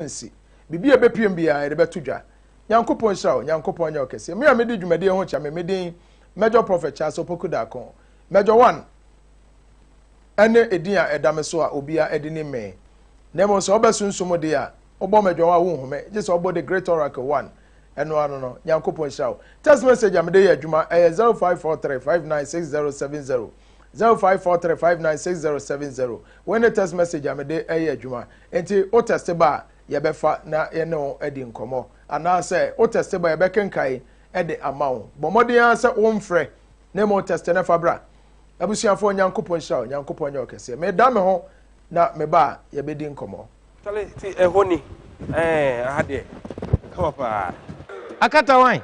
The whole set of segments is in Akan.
nsi. Biribi a ɛbɛpiem biara, yɛde bɛto dwa. Nyankopɔn nhyira wo. Nyankopɔn nyɛ wo kɛseɛ. Me a medi dwumadie ho kyɛ me, me din Major Prophet Charles Opoku Darkon. Major One ɛne edin a ɛda me so a obia ɛde nim me. Na mmom sɛ ɔbɛ sunsum deɛ a, wobɔ Major One a wonhu me, gye sɛ ɔbɔ The Great Oracle One. Ɛno ano no, Nyankopɔn nhyira wo. Text message a mede yɛ adwuma ɛyɛ 0543 596070. Zero five four three five nine six zero seven zero Wei ne text message a mede ɛyɛ adwuma Nti wo tɛste ba a yɛbɛfa na yɛne wo adi nkɔmmɔ Anaasɛ wo tɛste ba yɛbɛkenkae de ama wo Bɔ mmɔden ara sɛ womfrɛ na mmom tɛste na fa bra Abusuafoɔ Nyankopɔn nhyira wo Nyankopɔn nyɛ ɔkɛseɛ Meda me ho na meba a yɛbɛdi nkɔmmɔ Chale ti ɛhɔ ni ɛɛ aha deɛ ɛwɔ paa. Akatawan.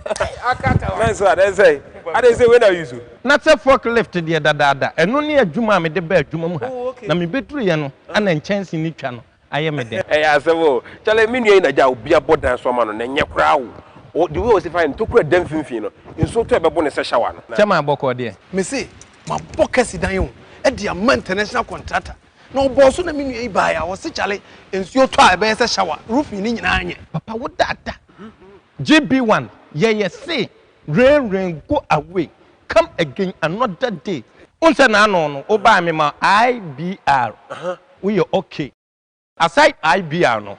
Akatawan. Mɛn so a dɛn sɛ adɛn sɛ wei na use o. Na sɛ fork lift deɛ dadaada ɛno ne adwuma a mede ba adwuma mu ha na mebɛduruiɛ no ana nkyɛnse no twa no ayɛ me dɛ. Ɛyɛ asɛm o. Chale me nua yi na gya a obi abɔ dan so ama no na ɛnyɛ koraa o. Ɔ the way ɔsi fa ntokura da mfimfini no nsuo tɔ ɛbɛbo no sɛ shower no. Kyɛ maa bɔkɔɔ deɛ. Mese mabɔ kɛse dan o de ama international contractor. Na ɔbɔɔ so na me nua yi baeɛ a, ɔse kyale nsuo tɔ a ɛbɛyɛ sɛ shower, roofing no nyinaa nyɛ. Papa wo dada. JB one yɛ yɛ se rain rain go away come again another day. Wohu sɛ n'ano no wo bae me ma IBR wo yɛ ok. Aside IBR no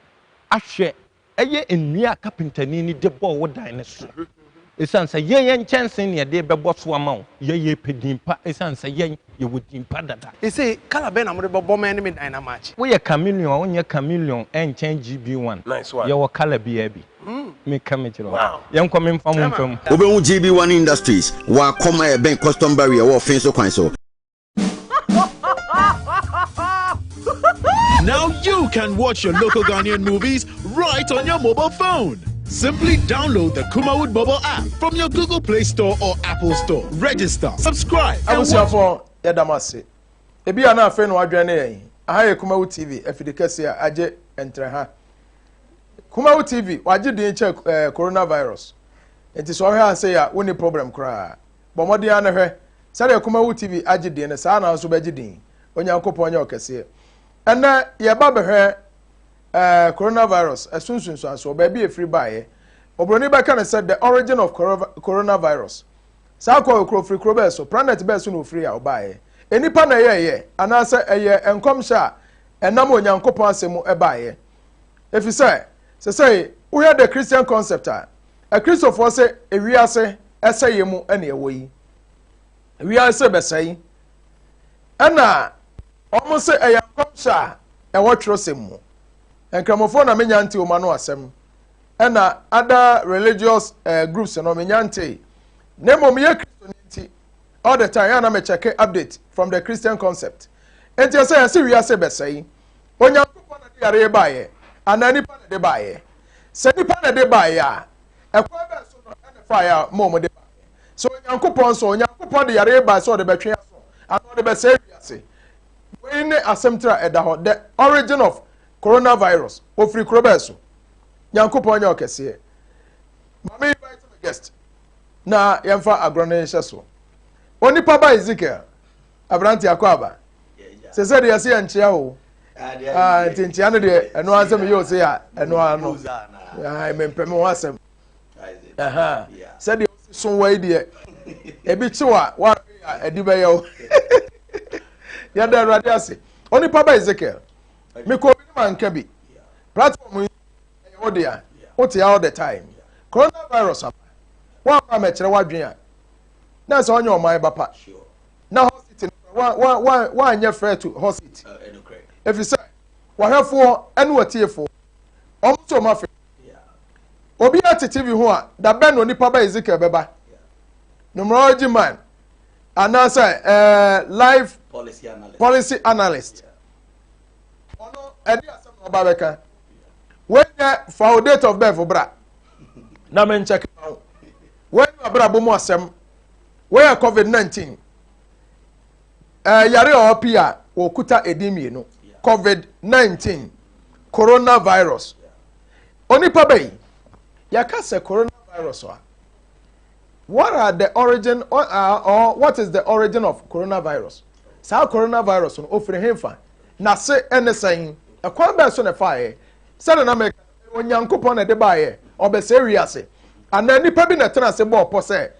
ahwɛ yɛ nnua a kapentani no de bɔɔ wo dan no so. Esiane sɛ yɛn yɛ nkyɛnsee na yɛde rebɛbɔ so ama wo. Yɛyɛ epɛ din pa esiane sɛ yɛn yɛwɔ din pa dada. Ese colour bɛn na mode bɛbɔ ma ɛne me dan no amatch? Woyɛ chameleon a wonyɛ chameleon ɛnkyɛn GB one. Nice one. Yɛwɔ colour biaa bi. Me ka me kyerɛ wo. Wow. Yɛnkɔ me mfa mo mfa mu. Wobɛhu GB one Industries wɔ Akɔm a ɛbɛn Custom Barrier wɔ Offinso kwan so. Now you can watch your local Ghanaian movies right on your mobile phone. Simply download the Kumawood mobile app from your Google Play Store or Apple Store. Register, subscribe, and watch. yɛdamase ebi a na afei na wadwɛn ne yɛn aha yɛ kumawo tv afidi kɛse a agye ntere ha kumawo tv wagye din kyɛ eh, coronavirus nti sɛ ɔhwɛ ase yɛ a wonni problem koraa Bɔ mmɔden ara na hwɛ. Sɛdeɛ Kumawu TV agye din no, saa ara na wo nso wobɛgye din. Onyankopɔn nyɛ ɔkɛseɛ. Ɛnnɛ, yɛba bɛhwɛ eh, coronavirus, ɛso nsunsuansoɔ, baabi a ɛfiri baeɛ. Oburoni bɛka no sɛ the origin of coronavirus. Saa kɔ yɛ kuro firi kuro bɛɛ so, planet bɛɛ so na ɔfiri a ɔbaeɛ. Nnipa na ɛyɛɛyɛ, anaasɛ ɛyɛ nkɔmhyɛ a ɛnam Onyankopɔn asɛm mu ɛbaeɛ. Ɛfiri sɛ, sɛsɛe wohwɛ The Christian Concept a, akristofoɔ sɛ ewiase ɛsɛeɛ mu ɛne ɛwɔ yi. Ewiase bɛsɛe. Ɛna wɔn sɛ ɛyɛ nkɔmhyɛ a ɛwɔ twerɛsɛm mu. Nkramofoɔ na menya nte wɔn ano asɛm. Ɛna ada religious uh, groups no menya nte. Na mmom yɛ kristo ne nti all the time ɛna mekyɛke update from the Christian concept. Nti ɛsɛ yɛsɛ wiase bɛsɛe. Onyankopɔn na ɛde yareɛ baeɛ anaa nipa na ɛde baeɛ? Sɛ nipa na ɛde baeɛ a, ɛkwan bɛn so na ɛfaeɛ a mo a mode baeɛ? Sɛ Onyankopɔn nso, Onyankopɔn de yareɛ baeɛ sɛ ɔde bɛtwe aso anaa ɔde bɛsɛe wiase? Wei ne asɛm tire a ɛda hɔ, The Origin of Coronavirus, Ɔfiri kuro bɛn so? Nyankopɔn nyɛ ɔkɛseɛ? Ma me invite me guest na yɛmfa agorɔ no nhyɛ so. Onipa ba Ezekiel, aberanteɛ akwaaba, sese deɛ se yɛnkyea o nti nkyea no deɛ ɛno ara sɛ meyɛ o se a ɛno ara no mempɛ me ho asɛm sɛdeɛ so wɔ yi deɛ ebi kyew a wɔahwɛ a ɛde bɛyɛ o yɛda awurade ase onipa ba ezekiel mekɔ obi ne ma nka bi platform yi ɛyɛ wo dea wote all the time coronavirus ama wɔn a mɛkyerɛ w'adwene a na sɛ ɔnyɛ ɔman ba pa. Sure. na hɔsit no wanyɛ frɛ to hɔsit ɛfiri sɛ wɔhwɛfoɔ ɛne wɔtiefoɔ ɔmo nso ɔmo afɛ obi a te tv ho a dabɛn na onipa ba ezekiel bɛba numerology man anaasɛ ɛɛ life policy analyst ɔno ɛde asɛm na ɔba bɛka wɔnyɛ fa o date of birth bra na menkyɛke ma wo wɔnyɛ abrabɔ mu asɛm Wɔyɛ covid nineteen ɛyare a ɔwɔ pii a wɔkuta edin mmienu covid nineteen coronavirus onipa bɛyi yɛka sɛ coronavirus a what are the origin or, uh, or what is the origin of coronavirus saa coronavirus no ofiri henfa na se ɛne sɛn ɛkwan bɛɛ so na ɛfaeɛ sɛde na mɛka onyankopɔn na ɛde baeɛ ɔbɛsɛ wiase anaa nipa bi na ɛtena ase bɔɔ pɔ sɛ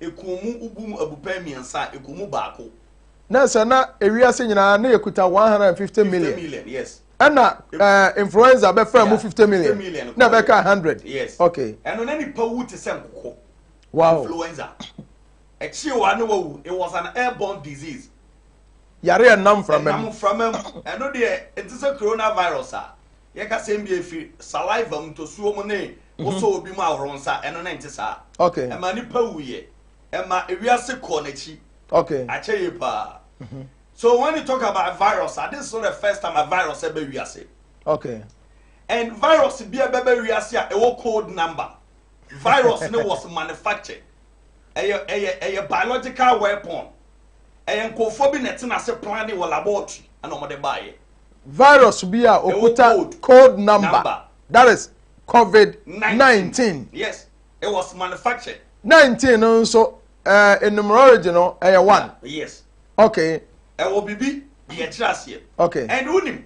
Ɛkoo mu obu mu abupɛn mmiɛnsa a ɛkoo mu baako. na sɛ na ewiase nyinaa na yɛkuta 150 million million yes ɛna ɛɛ influenza bɛfra mu 50 million million na ɛbɛka 100 yes okay ɛno na nipa wu te sɛ nkokɔ wow influenza ɛkyi wa ne wawu it was an airborne disease yare a nam framam nam framam ɛno deɛ nti sɛ coronavirus a yɛka sɛ mbia efiri saliva mu ntosuo mu ne Wosɔɔ obi mu ahoro nsa, ɛno ne nte saa. Okay. Ɛma nipa wuiɛ. Ɛma ewiase kɔɔ n'akyi. Okay. Akyɛ yie paa. Mhm. So when you talk about a virus, ah, this is not the first time a virus ɛbɛ wiase. Okay. And virus bi ɛbɛ bɛ wiase a ɛwɔ code number. Virus ne was manufactured. Ɛyɛ ɛyɛ ɛyɛ biological weapon. Ɛyɛ nkɔfoɔ bi na ɛte n'ase plan ne wɔ laboratory ɛna wɔn de baayɛ. Virus bi a okuta code number. number. That is covid nineteen. yes it was manufactured. nineteen no nso ɛɛ eh, numerology no ɛyɛ one. yes. okay. ɛwɔ bibi de yɛ kyerɛ aseɛ. okay. ɛn wunim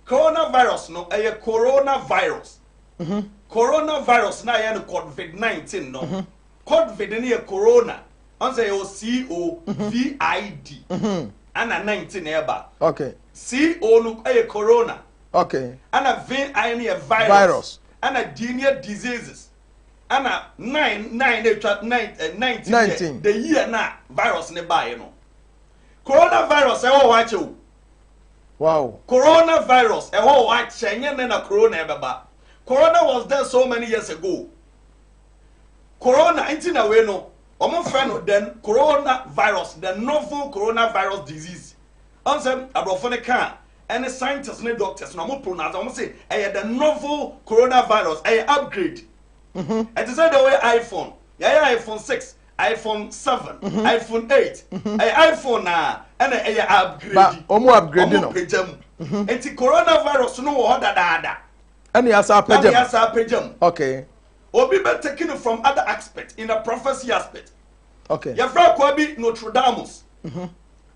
coronavirus no ɛyɛ coronavirus. Mm -hmm. coronavirus na yɛ no covid nineteen no. Mm -hmm. covid no yɛ corona ɔn sɛ yɛwɔ c o mhm. v i d. ɛna mhm. nineteen ɛɛba. okay. c o no ɛyɛ corona. Okay. Ɛna vin I no yɛ virus. Virus. Ɛna D no yɛ diseases. Ɛna nine nine na etwa nine eh, nineteen yɛ Nineteen. the year na virus ne baeɛ no. Coronavirus ɛwɔ hɔ akyɛ o. Wow. Coronavirus ɛwɔ hɔ akyɛ nyɛ nɛ na corona ɛbɛba. Corona was there so many years ago. Corona nti na wei no wɔn fɛ no the coronavirus the novel coronavirus disease Ɔnsɛm abrɔfo no kaa ɛne scientists ne doctors na ɔmo pronounce ɔmo se ɛyɛ the novel coronavirus ɛyɛ upgrade ɛte sɛ deɛ wɔyɛ iPhone yɛayɛ iPhone six iPhone seven iPhone eight ɛyɛ iPhone na ɛna ɛyɛ upgrade ɔmo upgrade no ɔmo pagya mu eti coronavirus no wɔ hɔ dadaada ɛne asa apagya mu ɛne asa apagya mu okay obi bɛ taking it from other aspect in a prophecy aspect okay yɛfrɛ akɔa bi Nostradamus. Mm -hmm.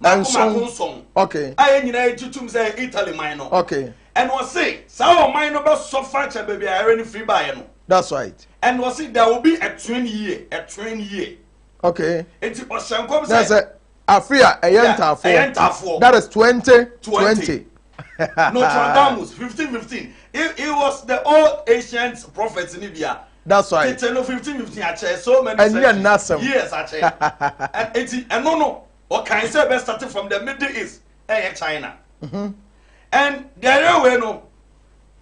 baako baako nson okay. a yɛn nyinaa yɛgye tom sɛ yɛ italy man no okay. ɛna ɔse saa ɔman no bɛsɔ fakyɛ baabi a ɛre no firi baeɛ no that's right ɛna ɔse there will be a twin year a twin year okay nti ɔhyɛ nkɔm sɛ sɛ afe a ɛyɛ ntaafoɔ ɛyɛ ntaafoɔ that is twenty twenty nostradamus fifteen fifteen he he was the old ancient prophet ni bia That's why. Tete no fifteen fifteen akyɛ so many centuries. Ɛnyɛ n'asɛm. Years akyɛ. Eti ɛno no ɔkan sɛ ɛbɛ start from the middle east ɛyɛ China. Mm-hmm. And the railway no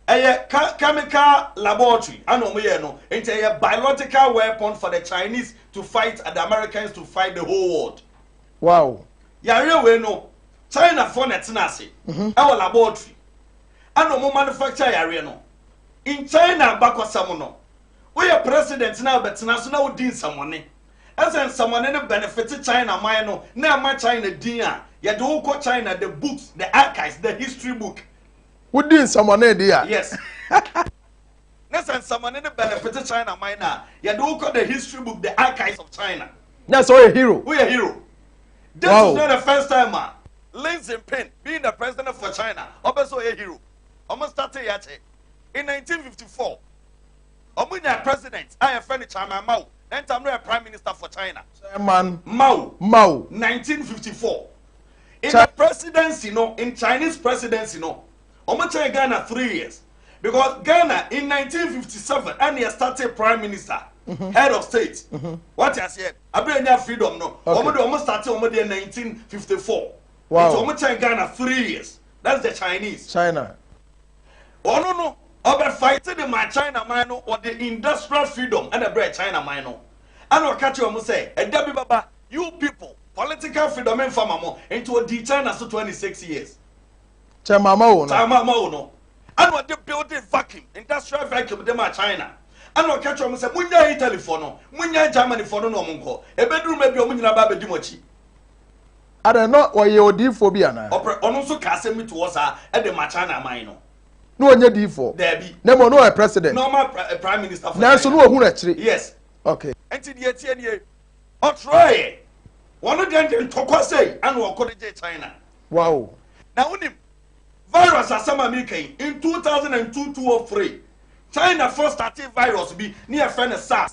ɛyɛ chemical laboratory ɛna wɔn yɛ no nti ɛyɛ biological weapon for the Chinese to fight and the Americans to fight the whole world. Wow. Yɛ railway no China fo na ɛtena ase ɛwɔ laboratory ɛna wɔn manufacture yɛ areɛ no. nkyɛn na abakɔsɛm no woyɛ president na bɛtena so na wodi nsɛmɔne ɛsɛ nsɛmɔne no benefit China man no na ɛma China din a yɛde wo kɔ China the books the archives the history book wodi nsɛmɔne de a yes na sɛ nsɛmɔne no benefit China man no a yɛde wo kɔ the history book the archives of China na sɛ woyɛ hero woyɛ hero this wow. is not the first time a Lin Jinping being the president for China ɔbɛ sɛ ɔyɛ hero wɔn startee yɛ kyɛ. In nineteen fifty four, wɔn nyaa president a yɛfrɛ no Chairman Mao, na ntam no yɛ prime minister for China. Chairman Mao, Mao. Nineteen fifty four, in Cha the presidency no, in Chinese presidency no, wɔn kyɛn Ghana three years. Because Ghana in nineteen fifty seven ɛna yɛ startee prime minister, mm-hmm. head of state. Mm-hmm. Wɔte aseɛ, abirɛ nya freedom no, wɔn de wɔn startee wɔn deɛ nineteen fifty four. Nti ɔmo kyɛn Ghana three years that's the Chinese. China. Ɔno no ɔbɛ fight de maa China man no ɔde industrial freedom ɛna ɛbrɛ China man no ɛna ɔka kyerɛ ɔmo sɛ ɛda bi bɛba you people political freedom nfa ma mo nti ɔdii China so twenty six years. Kyɛ mama wo no. Kyɛ mama wo no. Ɛna ɔde building vacuum industrial vacuum de maa China ɛna ɔka kyerɛ ɔmo sɛ mo nya Italy fɔ no mo nya Germany fɔ no na ɔmo nkɔ ebeduru mɛ bi ɔmo nyinaa ba abɛdi mo akyi. Adɛn, na ɔyɛ odiyifoɔ bi anaa? Ɔprɛ, ɔno nso kaa asɛm bi to hɔ saa de maa China man no. Na ɔnyɛ diyifoɔ? Daabi. Na mmom na ɔyɛ president. Na ɔma pra, prime minister for China. Nanso na ɔhunu akyire. Yes. Ok. Enti deɛ ɛteɛ nie, ɔtrɔeɛ. Wɔn deɛn de ntɔkwa sei ɛna ɔko de gyee China. Wow. Na wonim, virus asɛm a mereka yi, in two thousand and two, two or three, Chinafoɔ startee virus bi ne yɛfrɛ no SARS.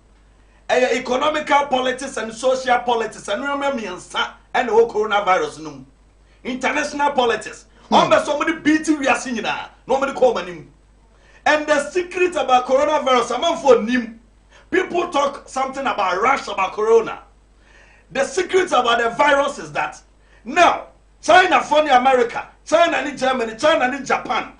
ɛyɛ economical politics and social politics ɛno yɛ mɛ mmiɛnsa ɛna ɛwɔ coronavirus no mu international politics hmm. wɔn bɛ so wɔn de beat wiase nyinaa na wɔn de kɔ wɔn anim and the secret about coronavirus amanfoɔ nim people talk something about rush about corona the secret about the virus is that now china fɔ ne america china ne germany china ne japan.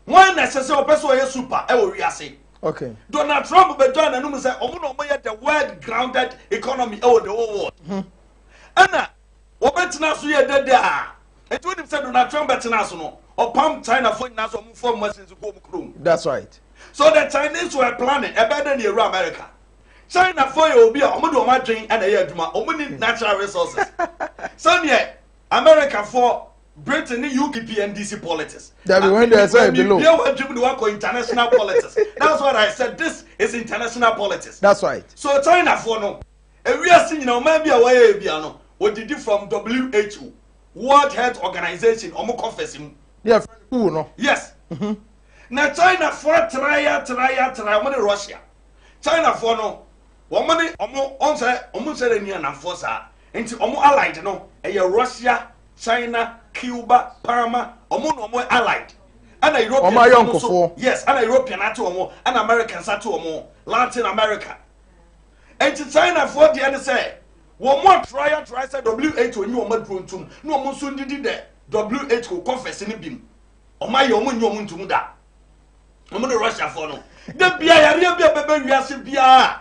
Wɔn na ɛsɛ sɛ ɔpɛ sɛ ɔyɛ super wɔ wiase. Okay. Donald Trump bɛ join anum sɛ ɔmo na ɔmo yɛ the world grounded economy ɛwɔ the whole world. Hmm. Ɛna wɔbɛ tena so yɛ dɛdɛ a. Nti wɔn nim sɛ Donald Trump bɛ tena so no ɔpam China fo nyinaa so ɔmo fɔ ɔmo machines kɔ ɔmo kurom. That's right. So the Chinese were planning ɛbɛ dɛ ne yɛ wura America. China fo yɛ obi a ɔmo de ɔmo adwen ɛna ɛyɛ adwuma ɔmo ni natural resources. Sɛdeɛ America fo Britain ne UKP NDC politics. Dabi when they say below. Bia wa dream de wa kɔ international politics. That's what I said. This is international politics. That's right. So China for no. Ewiase nyina ɔman bi a wɔyɛ bia no. Odidi from WHO, World Health Organization, ɔmo conference mu. Yeah, who no? Yes. Mm-hmm. Na China for traya traya traya ɔmo ne Russia. China for no. Wɔn ne ɔmo ɔnsɛ ɔmo nsɛ ne nua nanfoɔ saa. Nti ɔmo allied no ɛyɛ Russia, China, Cuba, Panama, ɔmo na ɔmo allied. Ɛna European Ɔmo fam nso, ayɔnkofoɔ. yes, ɛna European ate ɔmo, ɛna Americans ate ɔmo, Latin America. Nti China foɔ deɛ ne sɛ, wɔn atrae atrae sɛ WHO nye wɔn aduro ntum, na wɔn nso ndidi dɛ WHO conference no bim. Wɔn ayɛ wɔn nye wɔn ntum da. Wɔn ne Russia foɔ no, da bia yareɛ bi a ɛbɛbɛ wiase biara,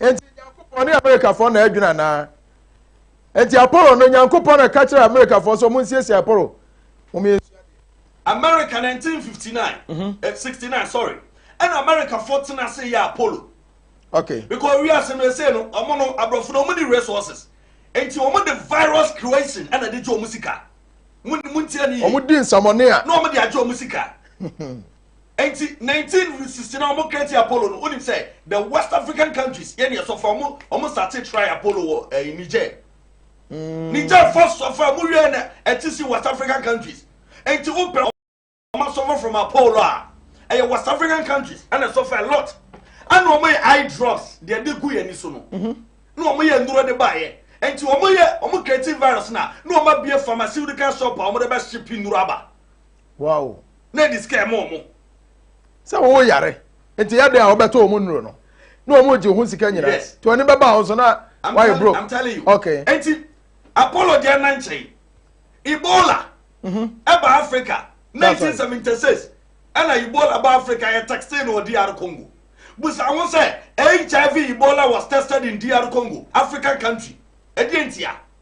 Enti Nyankopɔn ne Amerikafoɔ na adwene anaa? Enti Apollo no Nyankopɔn na ka kyerɛ Amerikafoɔ sɛ wɔnsiesie Apollo? Wɔyɛ America 1959 mm -hmm. eh, 69 sorry ɛna Americafoɔ tena ase yɛ Apollo okay because wiase no ɛsɛ no ɔmo no aborɔfo no ɔmo ne resources nti ɔmo de virus creation ɛna de gye ɔmo sika mo ntia ne yie ɔmo di nsamɔne a na ɔmo de agye ɔmo sika Enti 19 resisi na wɔn create Apollo no wonim sɛ the West African countries yɛ ne ɛsɔfra ɔmo ɔmo starte try Apollo wɔ ɛɛ eh, Niger mm. Niger fɔ sɔfra mo wiɛ na ɛte si West African countries enti wo pɛ ɔmo asɔfra from Apollo a ɛyɛ West African countries ɛna ɛsɔfra a lot ɛna ɔmo yɛ eye drops deɛ de gu yɛn ani so no mhm. na ɔmo yɛ nnuro de ba yɛ enti ɔmo yɛ ɔmo create virus na na ɔmo abie pharmaceutical shop a ɔmo de bɛ ship nnuro aba. Wow. na ɛde sika ɛma wɔn. sɛ wɔwɔ yare nti yɛ dɛn a wɔbɛtɔ wɔn nnuro no na wɔn gye ho sika nyinaa yes. nti wɔn ani bɛba wɔn so na wɔayɛ broke. I'm telling you okay. nti apollo deɛ na nkyɛn ebola ɛba mm -hmm. africa nineteen seventy six ɛna ebola ba africa yɛ taxi na wɔ dr congo busa ho sɛ hiv ebola was tested in dr congo african country ɛdeɛ ntia.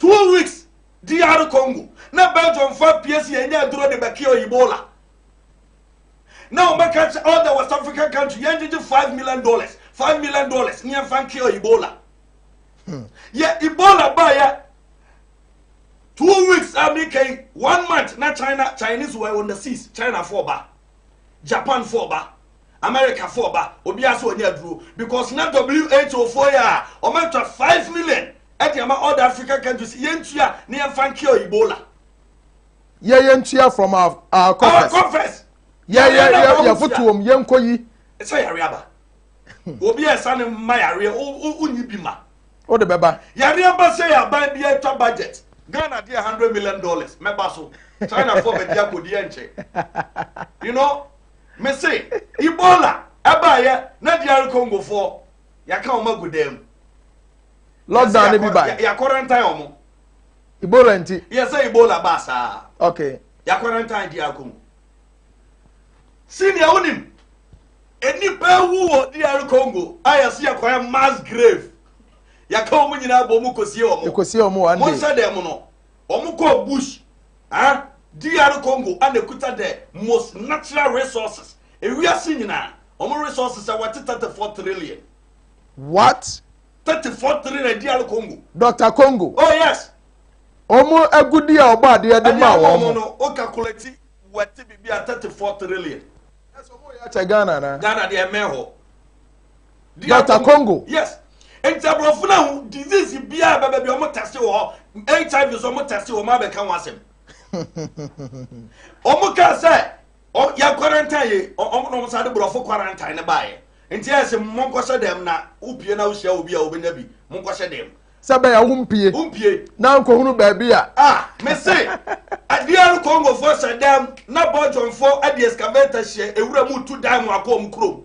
Two weeks DR Congo na Belgiumfo apue si yɛnyɛ aduro de bɛkea Ebola na wɔbɛka kyɛ all the West African country yɛngyegye five million dollars five million dollars ne yɛmfa nkea Ebola hmm. yɛ Ebola baeɛ two weeks a meka yi one month na China Chinese were on the seas China fo ɔba Japan fo ɔba America foɔ ba obiara sɛ ɔnya aduro because na WHO foɔ yɛ a ɔma atwa five million ɛde ama all the African countries yɛntua ne yɛmfa nkea Ebola. Yɛ yɛntua from our, our coffers. Our coffers. Yɛ yɛ yɛ yɛ fotoom yɛnkɔ yi. Sɛ yare aba. Obi a ɛsa ne mma yareɛ wonyi bi ma. O de bɛba. Yare aba sɛ yɛ aban bi atwa budget. Ghana deɛ hundred million dollars mɛba so. China foɔ bɛdi akɔdi ɛnkyɛ. You know. Me se Ebola ɛbaayɛ na DR Congo foɔ yɛaka wɔn agu dan mu. Lockdown ne bi ba. Yɛakɔrɛntan wɔn. Ebola nti. Yɛ sɛ Ebola baa saa. Okay. Yɛakɔrɛntan DR Congo. Senior wonim nnipa ewu wɔ DR Congo a yɛsi yɛkɔyɛ mass grave. Yɛaka wɔn nyinaa bɔ wɔn kɔsie wɔn. Kɔsie wɔn one day. Mo nhyɛ dɛm no wɔn kɔ bush. Eh, DR Congo ana ɛkuta the most natural resources ewiase nyinaa, wɔn resources a wɔte 34 trillion. What? 34 trillion DR Congo. Dr Congo. Oh yes. Wɔn agudi a ɔbɔ adeɛ de ma wɔn. Ɛdeɛ no, o calculate wɔte bibi a 34 trillion. Ɛsɛ wɔn yɛ akyɛ Ghana na. Ghana deɛ ɛmɛ hɔ. Dr. Congo. Yes. Nti aborɔfo no ahu disease biara a bɛbɛ bi ɔmo tɛse wɔ hɔ HIV so ɔmo tɛse wɔ ɔmo abɛka ho asɛm. Ɔmo kaa sɛ yɛ quarantine yɛ ɔmo na ɔmo sa de borɔfo quarantine ne baayɛ. Nti ɛyɛ sɛ mo nkɔhyɛ dɛm na wopie na wohyia obi a wobɛnya bi mo nkɔhyɛ dɛm. Sɛ bɛyɛ wo mpie. Wo mpie. Na nkɔhunu baabi a. Ah mese DR Congo fo hyɛ dɛm na Belgium fo ɛde excavator hyɛ ewura mu tu dan mu akɔ ɔmo kurom.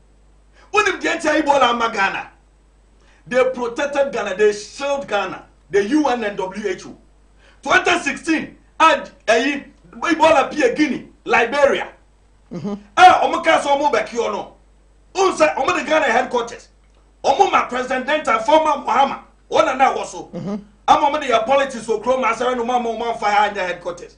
wonim deɛ nti a ebola ama ghana they protected ghana they shield ghana the un and who 2016 a ɛyi ebola pie guinea liberia mm-hmm. a wɔn kaa sɛ wɔn bɛkiɔ no n sɛ wɔn de ghana headquarters wɔn ma president dental former muhammad wɔn na na ɛwɔ so mm-hmm. ama wɔn de yɛ politics wɔ kurom asɛrɛ no mu ama wɔn anfa ha nyɛ headquarters.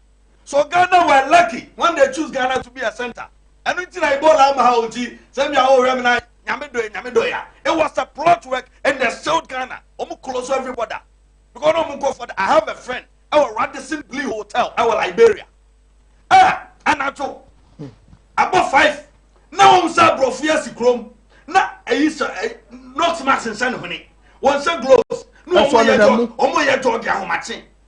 So Ghana were lucky when they choose Ghana to be a center? Ɛno nti na Ebola ama ha nti sɛ nea wɔhwɛ me na nyame dɔe nyame dɔe a. It was a plot work and they sealed Ghana. Wɔn close every border because wɔn nkɔ fɔda. I have a friend ɛwɔ Radisson Blu Hotel ɛwɔ Liberia. Ɛ anadwo abɔ five na wɔn sɛ aborɔfo yɛ si kurom na ɛyi sɛ nurse mask nsɛn hwene wɔn sɛ gloves na wɔn yɛ jɔ wɔn yɛ jɔ de ahomakye.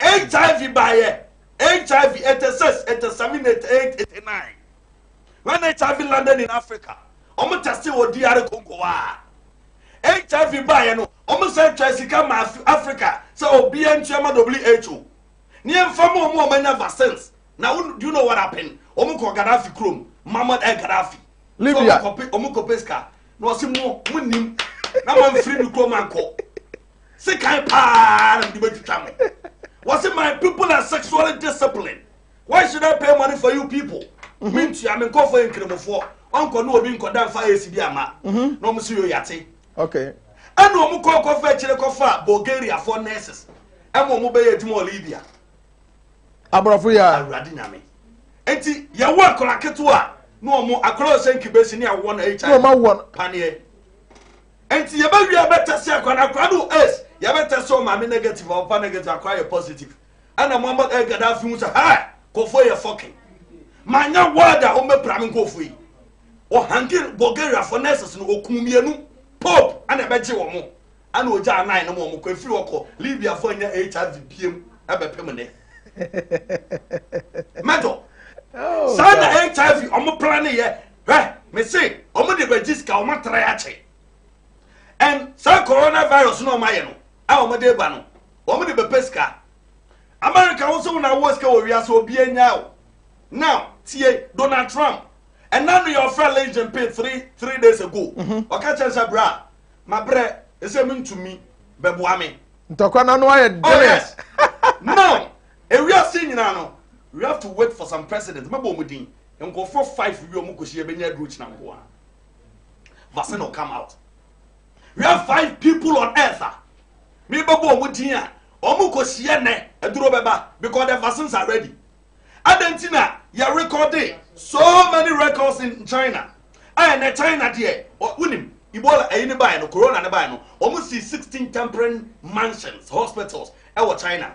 hiv baeɛ hiv 86 exterminate 89 when hiv landed in africa ɔmo tɛste wɔ dr congo a hiv baeɛ no ɔmo sɛ twa sika ma africa sɛ obia ntua ma who ne yɛmfa ma ɔmo ɔmo anya vaccines na do you know what happened ɔmo kɔ gaddafi kurom mamad el gaddafi libya ɔmo kɔpɛ sika na ɔse mo mo nim na mamfiri ne kurom ankɔ sekan paa na mede bɛtwitwa mo wɔse my people are sexually discipline why should i pay money for you people mhm. mentua me nkɔfoɔ yɛ nkramofoɔ ɔnkɔ ne obi nkɔda mfa ɛsi bi ama mhm. na ɔm so yɛ yate ɛne ɔm kɔ kɔfa akyire kɔfa bulgariafoɔ nurses ɛma ɔm bɛyɛ adwuma wɔ libya aborɔfo yɛ awurade nyame enti yɛwɔ akɔla ketewa na ɔm akɔla ɔsɛ nkibɛsi ne awɔ no hiv paneɛ Nti yɛbɛ wie yɛbɛ test akwa no akwa no ace yɛbɛ test o maame negative a ɔpa negative akwa yɛ positive ɛna mo ama ɛɛ gada afi ho sɛ hɛ kɔfoɔ yɛ fɔkin maa nya word a wɔn bɛ pra me nkɔfoɔ yi wɔ hangi Bulgaria fɔ nurses no okun mmienu pope ɛna ɛbɛ gye wɔn ɛna ogya anan no mo wɔn kɔ efiri hɔ kɔ Libya fɔ nya hiv biem ɛbɛ pem ne mɛtɔ oh, saa na hiv wɔn pra ne yɛ. hwɛ me se ɔmo de bɛgye sika ɔmo atra akyɛ ɛn saa corona virus na ɔmo ayɛ no a ɔmo de ba no ɔmo de bɛpɛ sika america wo sɛ wo na wɔ sika wɔ wiase obi anya o now tie donald trump ɛna no yɛ ɔfrɛ lin jinping three three days ago mhm. ɔka kyɛn sɛ bra ma brɛ ɛsɛ mi ntumi bɛboa me ntɔkwa na no ayɛ dɛ oh yes now ewiase nyinaa no we have to wait for some president mɛbɔ ɔmo din Nkurɔfoɔ five wi wɔn kɔsi ɛbɛnya aduro kyina nko a vaccine will come out. We have five people on earth a mebɛbɔ wɔn din a wɔn kɔsi ɛnɛ aduro bɛba because the vaccines are ready. Adan ti na yɛ recording so many records in China. Ɛyɛ na China deɛ wonim Ebola ɛyi ne baeɛ no corona ne baeɛ no wɔn si sixteen temporary mansions hospitals ɛwɔ China.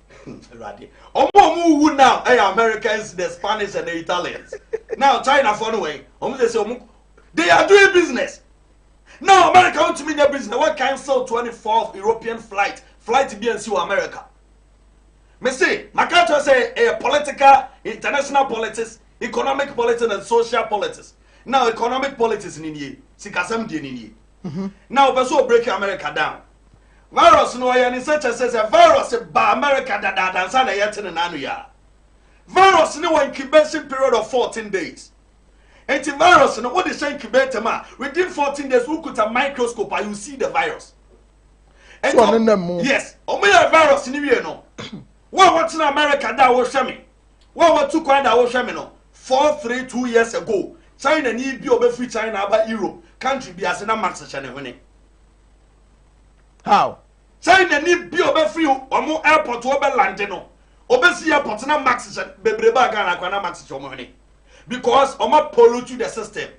awurade ɔmo a ɔmo wu now ɛyɛ americans the spanish and the italians now china fɔ no wɛn ɔmo sɛ sɛ ɔmo they are doing business now america wọn tumi nya business wọn cancel twenty fourth european flight flight bi nsi wɔ america mese maka kyerɛ sɛ ɛyɛ political international politics economic politics and social politics now economic politics ni nie sikasɛm deɛ ni nie mhm. now ɔpɛ sɛ ɔbreak america down. Virus no ɔyɛ ne sɛ kyɛ sɛ sɛ virus ba America dadaada nsa na yɛte ne n'ano yɛ a. Virus no wɔ incubation period of 14 days. Nti virus no wode hyɛ incubator mu a within 14 days wokuta microscope a you see the virus. Nti, so ne nam mu. Yes, ɔmo yɛ virus no wie no. Wo a wɔtena America da a wohwɛ me. Wo a wɔtu kwan da a wohwɛ me no. Four, three, two years ago. China ni bi a ɔbɛfiri China aba Europe country bi ase na max hyɛ ne hwene. How? Sɛn na ni bi a ɔbɛfiri wɔn airport hɔ bɛlande no, ɔbɛsi airport na max hyɛ bebree baa Ghana koraa na max hyɛ wɔn hwene because wɔn apollutu the system.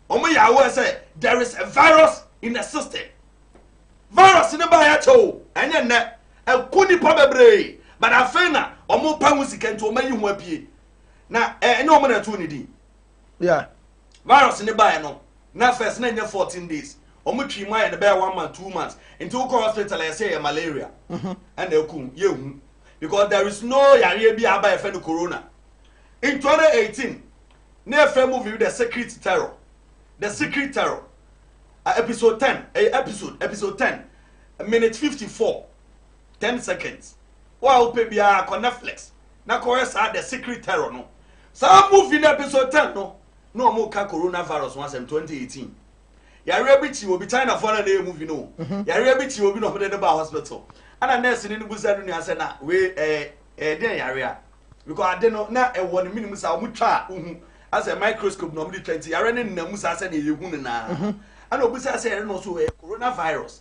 Wɔn yɛ aware sɛ there is a virus in the system. Virus no baa yɛakyɛ o, ɛnyɛ nnɛ, ɛko nipa bebree but afei na wɔn pɛ ho sika nti wɔn ayi ho apue na ɛnyɛ wɔn na ɛto ne din. Yeah. Virus ne baeɛ no, na first na nyɛ fourteen days. Wɔn twi mu ayɛ no bɛyɛ one month, two months. Nti wokɔ hospital yɛ sɛ ɛyɛ malaria. Mhm. Ɛna ɛkum yɛ hu. Because there is no yareɛ bi a aba yɛfɛ no corona. In 2018, ne yɛfɛ movie The Secret Terror. The Secret Terror. Uh, episode 10, uh, eh, episode, episode 10, minute 54, 10 seconds. Wow, baby, uh, Netflix. na kɔhwɛ saa the secret terror no saa movie no episode ten no na wɔn ka corona virus ho asɛm twenty eighteen yareɛ bi kyi obi china fo na na yɛ movie no o mhm. yareɛ bi kyi obi na wɔn de no ba hospital ɛna nurse no no busa no nua sɛ na wei ɛɛ ɛɛ den yareɛ because ade no na ɛwɔ ne minimu saa wɔn twa a ohu asɛ microscope na wɔn de twa nti yareɛ no nna mu saa sɛ na yɛ hu no naa ɛna obi sɛ asɛ yɛrɛ no so ɛɛ corona virus.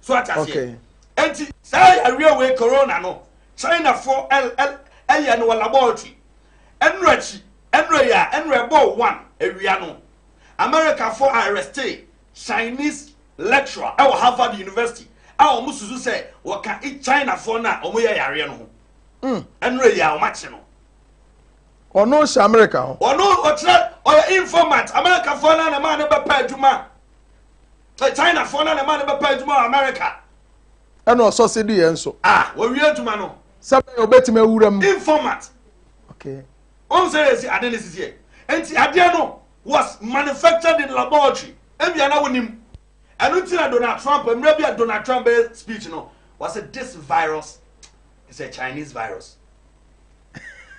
so ate aseɛ enti saa yareɛ wei corona no chinafoɔ ɛyɛ no wɔ laboratory ɛnura akyi ɛnura yɛ a ɛnura ɛbɔɔ one awia no americafoɔ arreste chinese lecturer ɛwɔ harvard university a wɔn susu sɛ wɔka chinafoɔ no a wɔyɛ yareɛ no ho hmm. ɛnura yɛ a wɔn akye no ɔno hyɛ america hɔ ɔno ɔkyerɛ ɔyɛ informant americafoɔ no a na maa no bɛpɛ adwuma Sɛ China foɔ na ne ma no bɛpɛ adwuma wɔ America. Ɛna ɔsɔse di yɛn so. Ah, wɔwie adwuma no. Sɛ bɛyɛ obetumi awura mu. Informat. Okay. Wɔn sɛ yɛsi ade ne sisi yɛ. Nti adeɛ no was manufactured in laboratory. Ebia na wonim. Ɛno nti na Donald Trump, mmerɛ bi a Donald Trump bɛyɛ speech no, wɔsɛ this virus is a Chinese virus.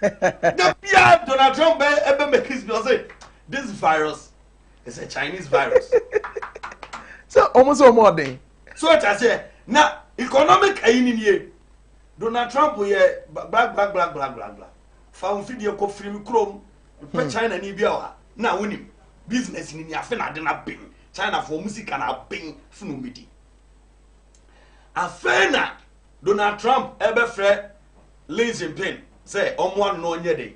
Da biara Donald Trump bɛyɛ ɛbɛ mekis bi ɔsɛ this virus it's a chinese virus. sɛ ɔmo sɛ ɔmo ɔden. so ɔkya sɛ na economic ayi ni nie donald trump yɛ blagblagblagblagbla fa wɔn fidie kɔ firi mi kurom pɛ hmm. china ni bi a wa na wonim business ni ni afe na ade na ben china fo wɔn sika na ben funu mi di afei na donald trump ɛbɛfrɛ lin jinping sɛ ɔmo ano ɔnyɛ de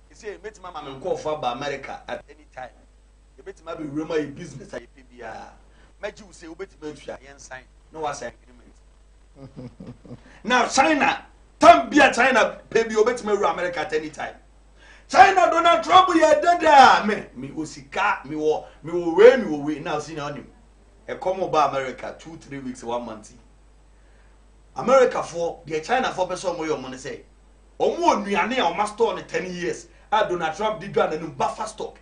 Seesei mɛtumi ama me nkorɔfoɔ aba Amerika at any time. Yɛbɛtumi abɛ wuram ayɛ business a yɛpɛ biara. Mɛgye wo sei wobɛtumi atua, yɛn sign na wa sign agreement. Na China, time bi a China pɛ bi obɛtumi awura Amerika at any time. China Donald Trump yɛ dede a me, me wɔ sika, me wɔ, me wɔ wei, me wɔ wei, na ɔsi na ɔnim. Ɛkɔm ɔba Amerika two, three weeks, one month yi. Amerikafoɔ, deɛ Chinafoɔ pɛ sɛ ɔmo yɛ ɔmo ne sɛ, Wɔn wɔ nnuane a wɔn a store no ten years a Donald Trump de dwa n'anim buffer stock.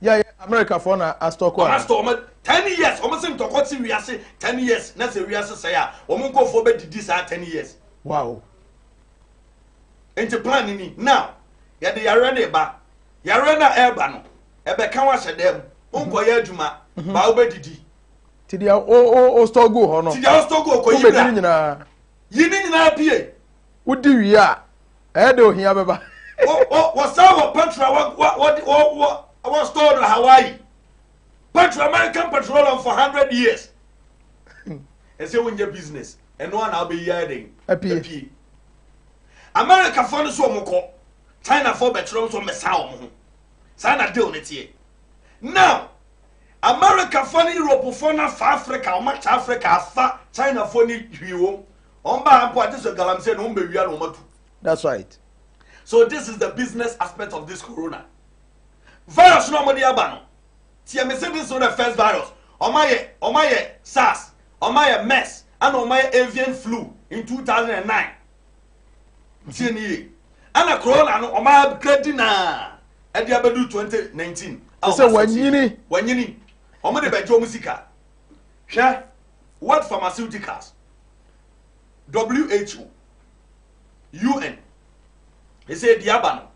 Yɛ yɛ America fɔ na a stock wɔn. Wɔn a store wɔn ten years wɔn se ntɔkɔ si wiase ten years na sɛ wiase sɛɛ a wɔn nkɔfoɔ bɛ didi saa ten years. Wow. Nti plan ni now yɛde yareɛ no ba yareɛ no a ɛreba no ɛbɛka wahyɛ dɛm wonkɔyɛ adwuma mhm. baa wobɛdidi ti deɛ o o o store gu hɔ no ti deɛ o store gu hɔ kɔyi bra Yi ne nyinaa pie. Wodi wie a, ɛyɛ dɛ ohia bɛba. Wɔsan wɔ petrol a wɔde wɔ store no Hawaii. Petrol American petroleum for hundred years. Ɛsɛ wonyɛ business. Ɛno a na wobɛyi ayɛ dɛn? Apie. Americafoɔ no so wɔn kɔ. Chinafoɔ bɛkyerɛ wɔn so wɔn bɛsa wɔn ho. Saa na deal no teɛ. Now Americafoɔ ne Europefoɔ no afa Africa, wɔn akyɛ Africa afa Chinafoɔ ne hwii wɔn. Wɔn baa ha mpo agye sɛ galamsey na wɔn bɛwia na wɔn atu. That's right. So this is the business aspect of this corona. Virus no wɔn de aba no. Tiɛ me se this is not the first virus. Wɔn ayɛ wɔn ayɛ SARS, wɔn ayɛ MERS, ɛna wɔn ayɛ avian flu in 2009. tie ne yie ɛna corona no ɔma upgrade na ɛde abɛdu 2019 a sɛ wanyini wanyini ɔmo de bɛgye ɔmo sika hwɛ world pharmaceuticals who un ɛsɛ ɛdi aba no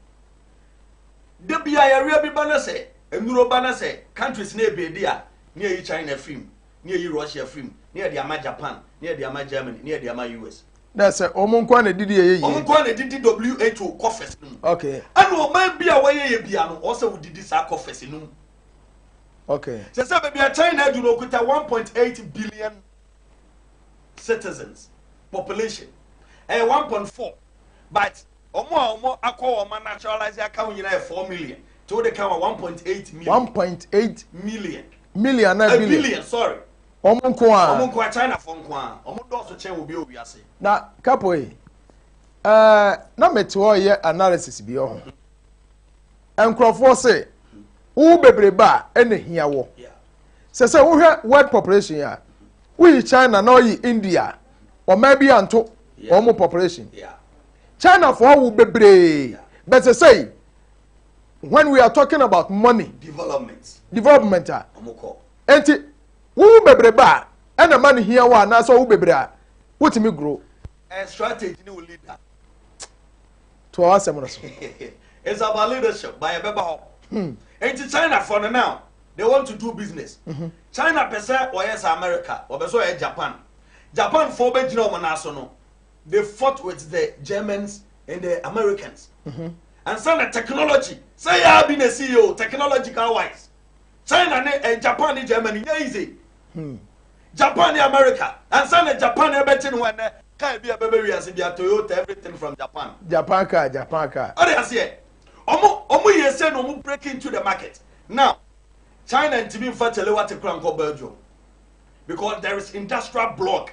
da bia yɛreɛ bi ba no sɛ nnuro ba no sɛ countries ne ɛbɛdi a ne ɛyi china firi mu na yɛayi Russia afiri mu, na yɛde ama Japan, na yɛde ama Germany, na yɛde ama US. na sɛ wɔn nko na didi yɛ yie. wɔn nko na didi WHO kɔfɛs no mu. okay. ɛna ɔman bi a wɔyɛ yɛ bia no ɔsɛ wodidi saa kɔfɛs no mu. okay. sɛ sɛ baabi a China adu no okuta 1.8 billion citizens population ɛyɛ 1.4 but wɔn a wɔn akɔ wɔn ma naturalize aka ho nyinaa yɛ 4 million tí wọ́n de ka wa 1.8 million. 1.8 million. million anaa eh, billion billion sorry wɔn nko a wɔn nko a china fo nko a wɔn dɔɔso kyɛn obi a owi ase na kapo yi ɛɛ eh, na mete hɔ yɛ analysis bi ɔho nkurɔfoɔ se wo bebrebe a ɛna hia wɔ sɛ sɛ wohwɛ world population a woyi china na ɔyi india ɔman bi anto wɔn population china fo awo bebree bɛsɛ sɛ yi. when we are talking about money development development a nti wowu bebrebe a ɛna ma no hia wɔ anaasɛ ɔwo bebree a wotumi goro and strategy ne wo leader to ɔwɔ asɛm no so it's about leadership by ɛbɛba hɔ hmm. nti china for no now they want to do business mm-hmm. china pɛ sɛ wɔyɛ sɛ america wɔbɛ sɛ ɔyɛ japan japan fo bɛgyina wɔn nan so no they fought with the germans and the americans mm-hmm. and sɛ na technology sɛ yɛa bi na ɛsi yɛ o technological wise china ne eh, japan ne germany nyɛ easy hmm. japan ne america and sɛ na japan ɛbɛkye ne ho ɛnɛ kaa bi a bɛbɛ wiase bi a toyota everything from japan japan car japan car ɔde aseɛ ɔmo ɔmo yɛ sɛ na ɔmo break into the market now china ntumi nfa kyɛlɛ wa te kura nkɔ belgium because there is industrial block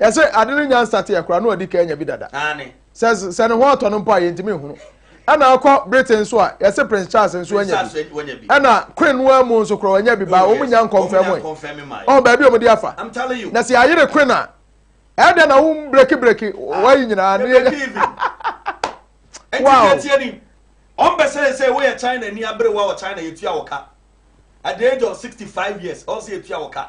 Yɛse ade no nya nsateɛ koraa na wadi kan anya bi dada. Sɛ sɛ ne ho ɔtɔ no mpo a yɛntumi nhunu. Ɛna akɔ Britain nso a yɛse Prince Charles nso anya bi. Ɛna Queen no ara mu nso koraa wanya bi baa wɔn nya nkɔnfɛm ɛ. Ɔn baabi a wɔn de afa. Na sɛ yɛayere Queen a ɛyɛ dɛ na wo breki breki wayi nyinaa ne yɛnya. Wow. Ɔn bɛ sɛ sɛ woyɛ China ni abere wa wɔ China yɛtua wɔ ka. At the age of 65 years ɔn sɛ yɛtua wɔ ka.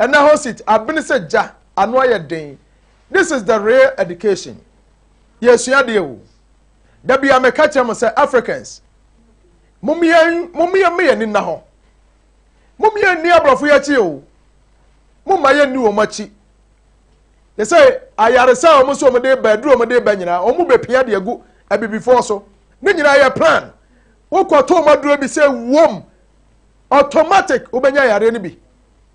Ɛna hɔ sit abene sɛ gya ano ayɛ den this is the real education yɛresua adeɛ o da bia meka kyerɛ mo sɛ Africans mom yɛn mom yɛn mma yɛn ani nna hɔ mom yɛn nni aborɔfo yɛ akyi o mom ma yɛn nni wɔn akyi te sɛ ayaresa a wɔn nso wɔn de ba aduru wɔn de ba nyinaa wɔn bɛ pia de agu abibifoɔ so ne nyinaa yɛ plan wokɔtɔ wɔn aduro bi sɛ wɔm automatic wobɛnya yareɛ no bi.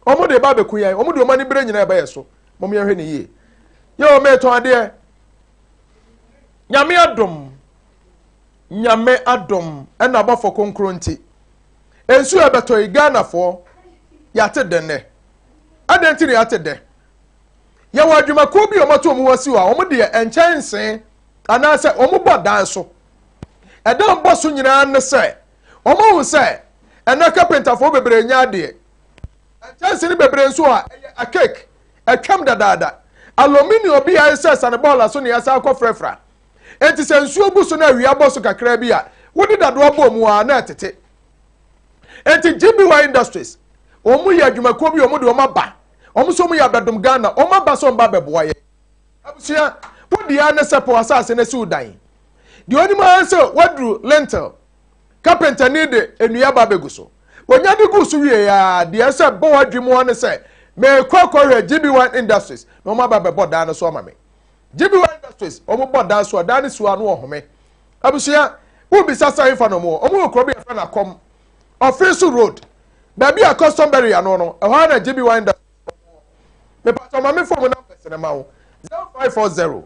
Wɔn de ba abɛku yɛn. Wɔn de wɔn anibere nyinaa ɛba yɛn so. Mom yɛn hwɛ ne yie. Yɛ wɔn mɛtɔn adeɛ. Nyame adom. Nyame adom. Ɛna abɔfo konkro nti. Nsuo ɛbɛtɔ yi Ghana foɔ. Yate dɛ nɛ. Adɛn nti na yate dɛ. Yɛwɔ adwumakuo bi wɔn ato wɔn ho asi hɔ a wɔn deɛ ɛnkyɛn nsee anaasɛ wɔn bɔ dan so. Ɛdan bɔ so nyinaa ne sɛ Wɔahu sɛ ɛnnɛ kapentafoɔ bebree nyɛ adeɛ. Nkyɛnsee bebree nso a ɛyɛ archaic, atwam dadaada. Aluminium bi a ayɛ sɛ asanebɔɔla so na yɛasan akɔfrafra. Enti sɛ nsuo gu so na awia bɔ so kakraa bi a, wode dadoa bɔ mu a, na ɛtete. Enti GBY Industries, wɔn yɛ adwumakuo bi, wɔn de wɔn aba. Wɔn nso wɔn yɛ abɛdom Ghana. Wɔn aba sɛ wɔn ba abɛboa yɛn. Abusua, wodi ara ne sɛ pɛ w'asaase na si wo dan. Deɛ ɔnim ara sɛ waduru lintel. Kapentani de nnua ba bɛgu so. Wɔnya de gu so wie a, deɛ ɛsɛ bɔ w'adwene mu ara ne sɛ, merekɔ akɔhwɛ GB1 Industries na wɔn aba bɛbɔ dan no so ama me. GB1 Industries, wɔn bɔ dan so a, dan no si hɔ a na wɔhome. Abusua, wobisa sɛ ɛhefa na wɔn wɔ? Wɔn wɔ kuro bi a yɛfrɛ no Akɔm, Ɔfeso Road, baabi a custom berry ano no, ɛhɔ ara na GB1 Industries wɔ. Mepatɔ ma me fon mu numbers no ma wo, 0540.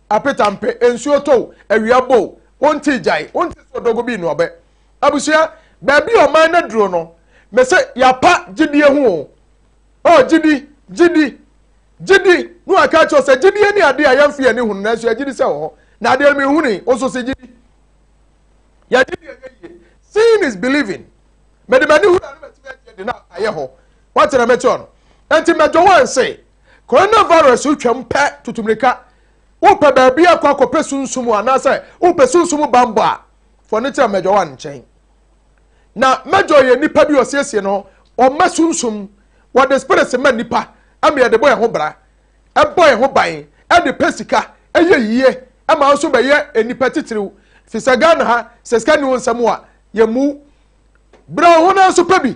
Apeta mpe, nsuo tɔ o, awia bɔ o, wonte gyae, wonte sɛ ɔdɔgo bi nnuabɛ. Abusua, baabi a ɔman no duro no, me se yapa gyidie ho o. Oh, gyidi, gyidi, gyidi, ne wa ka kyerɛ sɛ gyidie ne adeɛ a yɛnfe yɛni hunu nanso yɛ gyidi sɛ ɛwɔ hɔ. Na adeɛ no me huni, wo nso se gyidi. Yɛ gyidi yɛ yɛ yie. Seeing is believing. Mede m'ani hunu a ne matumi agye adi na ayɛ hɔ. Wate na mɛkyerɛ no. Enti mɛdwo wɔn se, Coronavirus retwam pɛ tutu mmirika. Wopɛ baabi akɔ akɔpɛ sunsum anaasɛ wopɛ sunsum bammɔ a, fa w'ani kyerɛ Major One nkyɛn. Na Major yɛ nipa bi ɔsiesie no, ɔma sunsum, wɔde spirits ma nipa ama yɛde bɔ yɛn ho bra, ɛbɔ yɛn ho ban, ɛde pɛ sika, ɛyɛ yie, ɛma nso bɛyɛ nipa titiriw. Fisɛ Ghana ha, sɛ sika ni wo nsam a, yɛmmu wo. Bra wo ho na nso pɛ bi,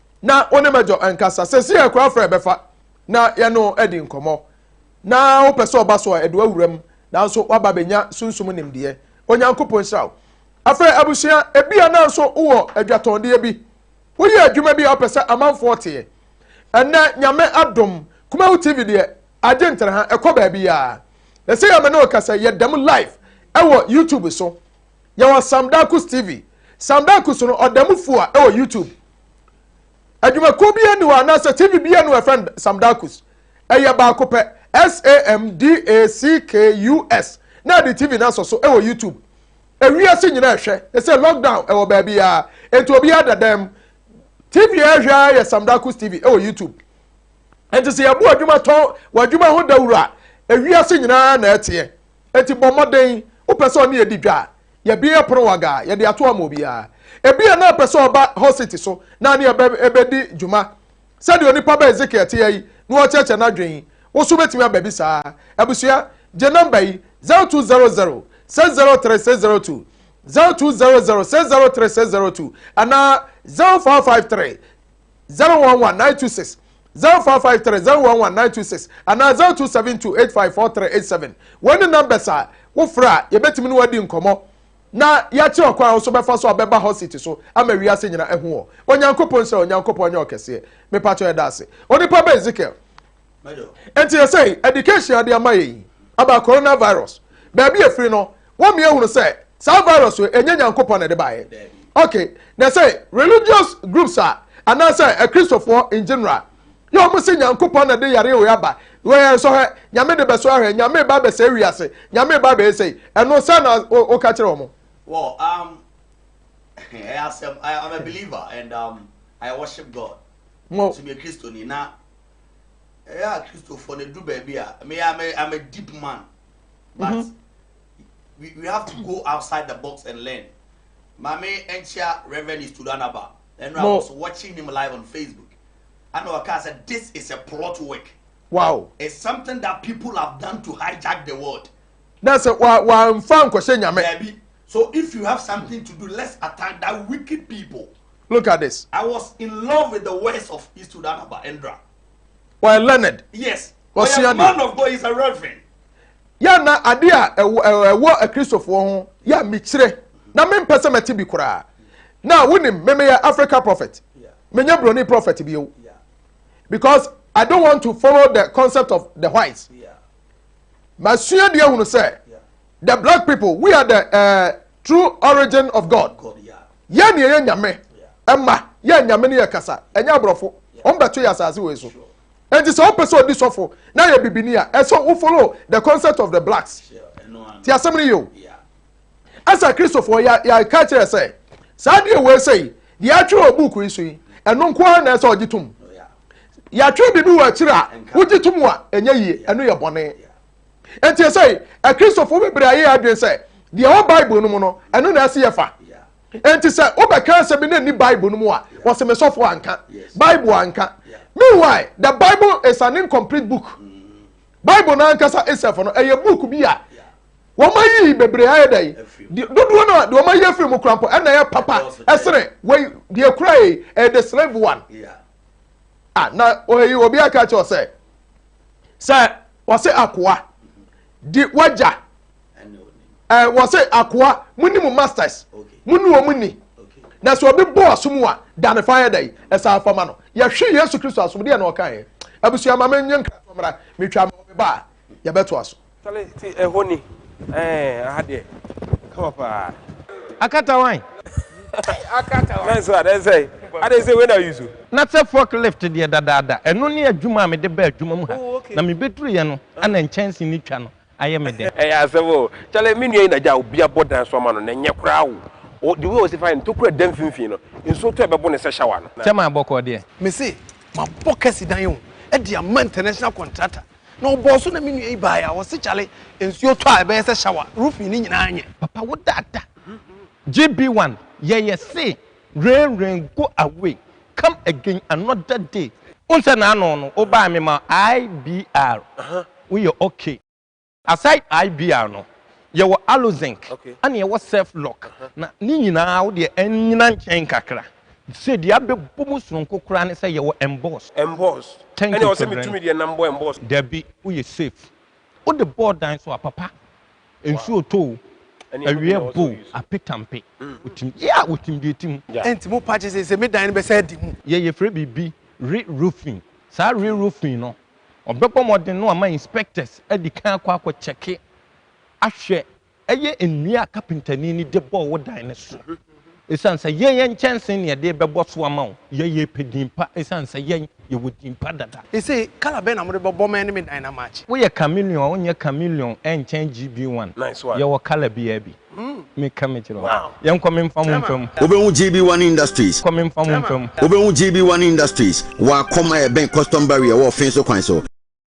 na wo ne major nkasa sɛsi yɛ kora frɛ bɛfa na yɛno adi nkɔmmɔ na wopɛ sɛ ɔba so a ɛde wawura mu nanso waba bɛnya sunsum nimdeɛ onyankopɔn nhyira wo afei abusua ebia nanso wowɔ adwatɔndeɛ bi woyɛ adwuma bi a wopɛ sɛ amanfoɔ teɛ ɛnɛ nyame adom kumawu tv deɛ agye ntere ha ɛkɔ baabi a ɛsɛ yɛ me ne ɔkasa yɛda mu live ɛwɔ youtube so yɛwɔ sam dakus tv sam dakus no ɔda mu fua ɛwɔ youtube adwumakuo bi ani hɔ anaasɛ tv bi anu ɛfɛn sam dakus ɛyɛ baako pɛ samdakus na ɛde tv no asɔ so ɛwɔ youtube ewiase nyinaa ɛhwɛ ɛsɛ lockdown ɛwɔ baabi a nti obi ada dɛm tv ɛhwɛ a yɛ sam dakus tv ɛwɔ youtube nti sɛ yɛbu adwuma tɔn wɔ adwuma ho dawuro a ewiase nyinaa na ɛteɛ Enti bɔ mmɔden, wopɛ sɛ ɔne yɛ di dwa a, yɛabue pono wɔ aga a, yɛde ato ama obiara. Ebia na ɔpɛ sɛ ɔba hɔsete so na ɔne yɛ bedi dwuma. Sɛnea onipa ba Ezekiel teɛ yi na ɔrekyerɛkyerɛ n'adwene. Wo nso wubetumi aba bi saa ara. Abusua, gye nɔmba yi, 0200 603 602, 0200 603 602, anaa 0553. 011926 0453 011926 anaa 0272854387. Wei ne numbers a wofrɛ a yɛbɛtumi ne wadi nkɔmmɔ na yɛakyerɛ ɔkwan a wosɔ bɛfa so a bɛba hɔ seat so ama wiase nyina ahu wɔ. Onyankopɔn nhyira Onyankopɔn nyɛ ɔkɛseɛ. Mepatɔ yɛda ase. Onipa ba Ezekiel, nti yɛ sɛ education ade ama yɛ yi about coronavirus baabi efiri no wɔn mi ehunu sɛ saa virus yɛ enye nyankopɔn na ɛde baayɛ okay na sɛ religious groups a anaasɛ akristofoɔ in general yɛ wɔn si nyankopɔn na de yare wɔ aba wɔyɛ nsɔ hɛ nyame de bɛsɔ ahwɛ nyame ba bɛsɛ ewi ase nyame ba bɛyɛ sɛ ɛno sɛ na ɔka kyerɛ wɔn. well um ɛyɛ asɛm i am a believer and um i worship god. mo to be a christian na ɛyɛ a Christopher no do baabi a me I'm a, I'm a deep man but mm -hmm. we, we have to go outside the box and learn maame nkyia Reverend Istudanaba and I was watching him live on Facebook and I said this is a plot work wow it's something that people have done to hijack the world that's a wa wa nfa nkɔhyɛ nyame so if you have something to do let's attack that wicked people Look at this. I was in love with the words of his student Abba Endra. Why learned? Yes. Why a man of God is a reverend. Ya na ade a ɛwɔ akristofoɔ ho ya mekyerɛ na mempɛ sɛ mɛte bi koraa na wonim memeyɛ africa prophet menyɛ broni prophet bio because i don't want to follow the concept of the whites masua deɛ hunu sɛ The black people we are the uh, true origin of God. Yɛn ni yɛyɛ nyame ɛma yɛ nyame ni yɛ kasa ɛnyɛ aborɔfo wɔn bɛto yɛ asase wɔ so. Eti sɛ ɔpɛ sɛ ɔdi sɔfo na yɛ bibini a ɛsɛ wo follow the concept of the blacks. Ti asɛm ni yɛ o. Ɛsɛ kristofoɔ yɛ yɛ ka kyerɛ sɛ saa deɛ wɔ ɛsɛ yi deɛ atwerɛ wɔ buuku yi so yi ɛno nko ara na ɛsɛ ɔgye tom yɛatwerɛ biribi wɔ akyire a wogye tom a ɛnyɛ yie ɛno yɛ bɔne nti sɛ akristofo bebree ayɛ adwene sɛ deɛ ɛwɔ bible no mu no ɛno na ɛsɛ yɛfa nti sɛ wobɛka asɛm bi na ɛni bible no mu a wɔsɛ me sɔfo anka bible anka meanwhile the bible is an incomplete book mm. bible no ankasa isɛf no ɛyɛ book bi a wɔn ayi bebree ayɛ dɛ yi dodoɔ no a deɛ wɔn ayi afiri mu kura mpo ɛna ɛyɛ papa ɛsene wei deɛ kura yi ɛyɛ the slave one. Yeah. a na ɔyi obi aka kyerɛ sɛ sɛ wɔse akoa di wagya ɛɛ wɔse akoa mo ni mo masters mo ni wɔn ni na sɛ obi bɔ ɔsom a da ne fa yɛ dɛ ɛsɛ afama no yɛhwe yesu kristo asom deɛ na ɔka yɛ abusua ma me nye nkratɔ mmra metwa ma ɔbɛba a yɛbɛto aso. Chale te ɛhɔ ni ɛɛ aha deɛ ɛkama paa. Akata wan? Akata wan? Nso adɛn sɛe? Adɛn sɛ wei na use o? Na sɛ fork lift deɛ dadaada ɛno ne adwuma a mede baa adwuma mu ha na mebeduruiɛ no na nkyɛnse no twa no ayɛ me dɛ. Ɛyɛ asɛm o. Chale me nua yi na gya a obi abɔ dan so ama no na ɛnyɛ koraa o. Ɔ the way ɔsi fa yɛ no tokura da mfimfini no nsuo tɔ ɛbɛbo no sɛ shower no. Chairman bɔkɔɔ deɛ. Mese mabɔ kɛse dan o de ama international contractor. Na ɔbɔɔ so na me nua yi baeɛ a, ɔse kyale nsuo tɔ a ɛbɛyɛ sɛ shower, roofing no nyinaa nyɛ. Papa wo dada JB one yɛ yɛ se rain rain go away come again another day. Wohu sɛ naano no wo bae me ma IBR wo yɛ ok. Aside IBR no yɛwɔ Allozinc ɛna yɛwɔ Surf lock na ne nyinaa wo deɛ ɛnyina nkyɛn kakra. Sɛ deɛ abɛbɔ mu soronko koraa ne sɛ yɛwɔ emboss. Emboss? Thank Ɛne you ɔsɛ Kyɛbrɛn. metumi deɛ nam bɔ emboss. Dabi, woyɛ safe. Wode bɔɔ dan so a, papa, nsuo tɔ o, Ɛneɛma bi na awia ɛwɔ sɛ bo o, woyi so. apetampe, wotim, yeah, wotim deɛ ɛtim. Gya. Ɛnti mo pa gye sese me dan no bɛsan adi mu. Yɛ yɛfrɛ biribi re roofing. Saa re roofing no, ɔbɛbɔ mmɔden no ama inspectors adi kan akɔ akɔ kyɛke ahwɛ Ɛyɛ nnua a kapentani no de bɔɔ wo dan no so. Esiane sɛ yɛn yɛ nkyɛnsee na yɛde rebɛbɔ so ama wo. Yɛn yɛpɛ din pa esiane sɛ yɛn yɛwɔ din pa dada. Ese colour bɛn na mode bɛbɔ ma ɛne me dan no amatche? Woyɛ chameleon a wonyɛ chameleon ɛnkyɛn GB one. Yɛwɔ colour biara bi. Me ka me kyerɛ wo. Yɛnkɔ memfa mo mfa mu. Wobɛhu GB one Industries. Kɔ memfa mo mfa mu. Wobɛhu GB one Industries wɔ akɔm a ɛbɛn custom barrier wɔ Ɔfenso kwan so.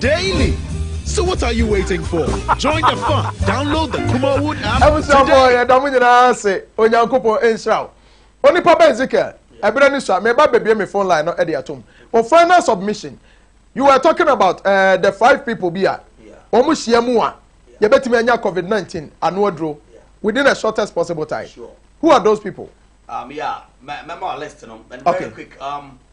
Daily! So what are you waiting for? Join the fun! Download the Kumawood app today! Abusuafoɔ yɛda mo nyinaa ase Onyankopɔn nhyira wo Onipa bɛ Ezekiel ɛberɛ no sua meba bɛbie me phone line no ɛde atom wo final submission you were talking about uh, the five people bi a wɔn hyia mu a yɛbɛtumi anya COVID-19 ano aduro within the shortest possible time who are those people? Um, yeah, mɛma list no and very okay. quick um,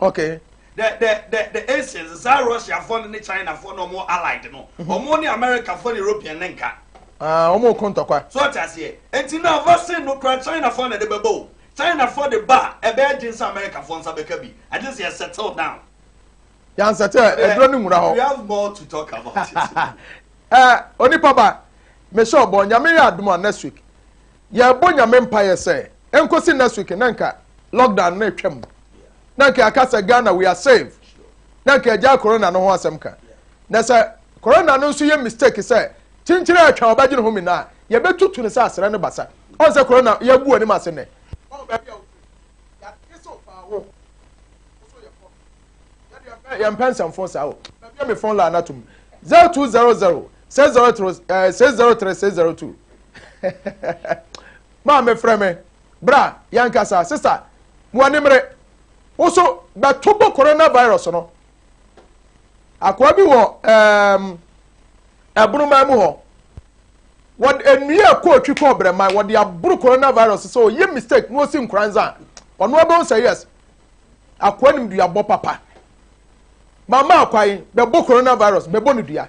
Okay. The the the the Asians saa Russia fo ne China fo na wɔn allied no. Wɔn mm-hmm. ne America fo ne European ne nka. Ah, wɔn ko ntɔkwa. So ɔte aseɛ. Eti na vaccine no kura China fo na ɛde bɛbɔ o. China fo de ba a ɛbɛyɛ gye nsa America fo nsa bɛka bi. Agye sɛ yɛ settle down. Yan settle ɛduro ne nwura hɔ. We have more to talk about it. Ɛɛ eh, onipa ba, mehyɛ ɔbɔ nyame yɛ adum a next week. Yɛbɔ Nyame mpaeɛ sɛ ɛnkɔsi next week na nka lockdown no atwam. Na nka yɛaka sɛ Ghana we are safe. Na nka yɛgyae corona no ho asɛm ka. Na sɛ corona no nso yɛ mistake sɛ kyenkyere a ɛtwa ɔbɛgye ne ho mene a, yɛbɛtutu no sɛ asrɛ no basa. Ɔn sɛ corona yɛagu w'anim ase nnɛ. Ɔn baabi a wofiri. Yɛagye so faa wo. Wo so yɛ fɔm. Yɛdeɛ yɛmpɛ yɛmpɛ nsɛmfo saa o. Mabie me phone line no atom. 0200 603 603 602. Maame frɛ me. Bra, yɛnkasa. Sista, w'ani mmere. Wo so bɛto bo coronavirus no. Akoa bi wɔ um, ɛbonoman mu hɔ. Wɔde nnua ɛkɔ otwi kɔ ɔbrɛman. Wɔde aboro coronavirus sɛ ɔyɛ mistake na ɔsi nkoranza. Ɔno abɛn sɛ yes. Akoa nim duabɔ papa. Mama akwan bɛbɔ coronavirus bɛbɔ no dua.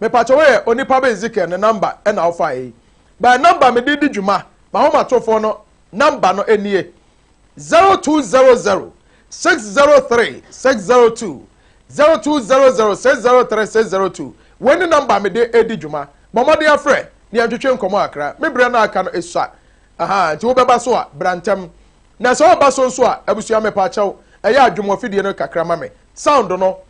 Mepakyɛ woyɛ onipa bɛ Ezekiel ne number ɛna wofa eyi bɛ number mede di dwuma mahomatorofoɔ no number no nie zero two zero zero six zero three six zero two zero two zero zero six zero three six zero two wei ne number mede edi dwuma bɔ mmɔden afrɛ ne yɛn twetwe nkɔmɔ akra me berɛ no aka no esua aha nti wobɛba so a bra ntɛm na sɛ ɔba so nso a abusua mepakyɛw ɛyɛ adwom wɔ fidie no kakra ma me sound no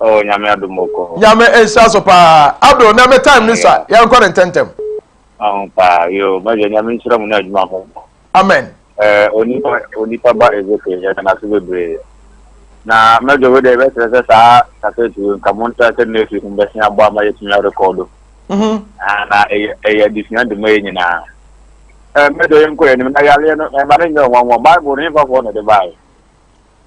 Oh, nyame adom ɔkɔ hɔ. Nyame nhyira so paa. Abdul, na me time ne sa, yɛnkɔ ne ntɛntɛm. Aho paa, yo, magya nyame nhyira mu ne adwuma ho. Amen. Eh, onipa, onipa ba Ezekiel, yɛda no ase bebree. Na mɛdwo wo dɛ, bɛkyerɛ sɛ saa kasɛti wei nka montra sɛ next week mbɛsen abɔ ama yɛatumi arekɔdo. Mhm. Ah, na ɛyɛ ɛyɛ adesua de ma yɛ nyinaa. Eh, mɛdwo yɛnkɔ yɛn anim na yareɛ no, ɛma no nyɛ ɔnwanwa. Bible no, hefafoɔ na ɛde baeɛ?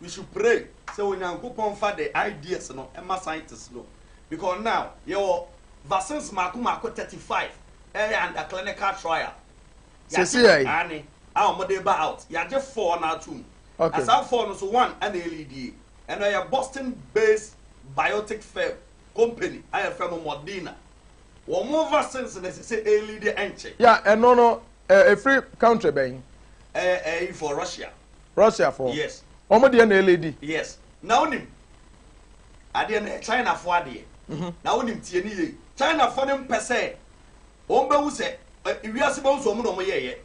we should pray sɛ onyankopɔn fa the ideas no ɛma scientists no because now yɛwɔ vaccines mako mako 35 ɛyɛ under clinical trial yɛagye ane a wɔde ba out yɛagye four na ato mu okay. na saa four no so one ɛna ɛlidie ɛna ɛyɛ boston based biotic firm company ayɛ fɛ no Moderna wɔn vaccines na ɛsɛ sɛ ɛlidie ɛnkyɛ ya ɛno no Ɛ ɛfiri country bɛn? Ɛ ɛyifoɔ Russia. Russia foɔ? Yes. Wɔn deɛ na ɛledi? Yes. Na wonim adeɛ no yɛ China foɔ adeɛ. Mhm. Na wonim tie ne yie. China foɔ no mpɛ sɛ wɔn bɛhu sɛ ɛ wiase bɛhu sɛ wɔn na wɔn yɛɛyɛ.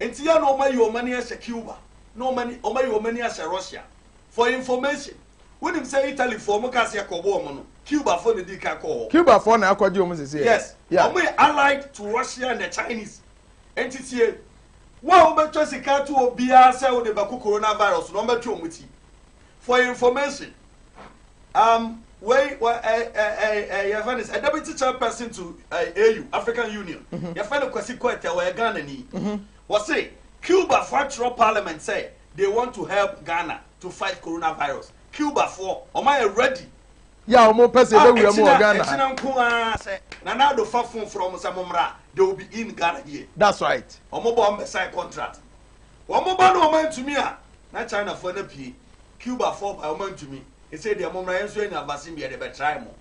Nti yɛ na wɔn ayi wɔn ani ahyɛ Cuba. Na wɔn ani wɔn ayi wɔn ani ahyɛ Russia. For your information. Wonim sɛ Italy foɔ ɔmo kaa sɛ yɛkɔbɔ ɔmo no, Cuba foɔ na di kan kɔɔ hɔ. Cuba foɔ na akɔgye ɔmo sisi. Yes, ɔmo yɛ allied to Russia and the Chinese. Nti tie, wo a wobɛtwa sika ato obiara sɛ wode bɛko corona virus no, ɔmo bɛtwe ɔmo ti. For your information, um, wei, wɔ, ɛ, ɛ, ɛ, ɛ, yɛfɛ no sɛ, deputy chairperson to ɛ, AU, African Union, mhm. yɛfɛ no Kwasi Kɔɛtɛ, wɔyɛ Ghana ni. Mhm. Wɔse, Cuba foɔ atwerɛ parliament sɛ, they want to help Ghana. to fight corona virus Cuba foɔ wɔn ayɛ ready. Yɛ a wɔn pɛ sɛ yɛbɛ wura mu wɔ Ghana ha. Ɛkyina nko ara sɛ Nana Addo fa phone frɛ wɔn sɛ mo mmra they will be in Ghana here. That's right. Wɔn ba wɔn bɛ sign contract wɔn ba na wɔn antumi a na China foɔ na pie Cuba foɔ ba wɔn antumi ɛsɛ deɛ mo mmra yɛn nso yɛ nya vaccine bi yɛde bɛ try mo.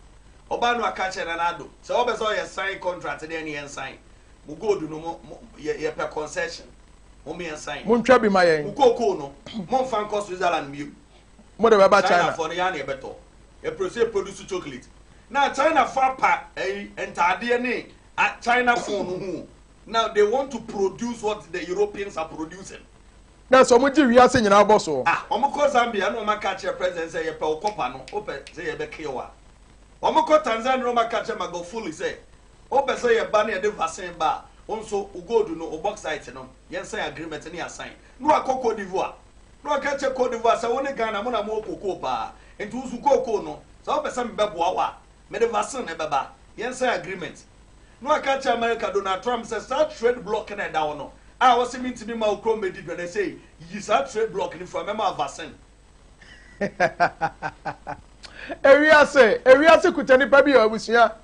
Ɔbaa no aka kyerɛ Nana Addo sɛ wɔn bɛ sɛ wɔyɛ sign contract deɛ ne yɛn sign mo gold no mo yɛ yɛ pɛ concession. montwa bi ma yɛn mo de bɛba china ɛpere sɛ produce chocolate na china fo apa ɛyi eh, ntaadeɛ ne china fo no ho now they want to produce what the europeans are producing na sɛ ɔmo gye wiase nyinaa bɔ so. ah ɔmo kɔ zambia na ɔmo aka kyerɛ president sɛ yɛpɛ ɔkɔpa no ɔpɛ sɛ yɛbɛkew a ɔmo kɔ tanzania na ɔmo aka kyerɛ magofuli sɛ Wopɛ sɛ yɛ ba na yɛde vaccine ba a, wo nso wo gold no, wo bauxite no, yɛn sign agreement ne yɛ assign. Na wakɔ Cote d'Ivoire. Na ɔka kyerɛ Cote d'Ivoire sɛ wo ne Ghana mo na mo wɔ cocoa paa, nti wo nso cocoa no, sɛ wopɛ sɛ me bɛboa wo a, mede vaccine no ɛbɛba, yɛn sign agreement. Na waka akyerɛ America Donald Trump sɛ saa trade block no a ɛda hɔ no, a wose mentumi mma wo kura wo mmɛdi dwa no, ɛsɛ yiyi saa trade block no fura, mɛma wo vaccine. ewiase ewiase kuta nipa bi yɛ abusua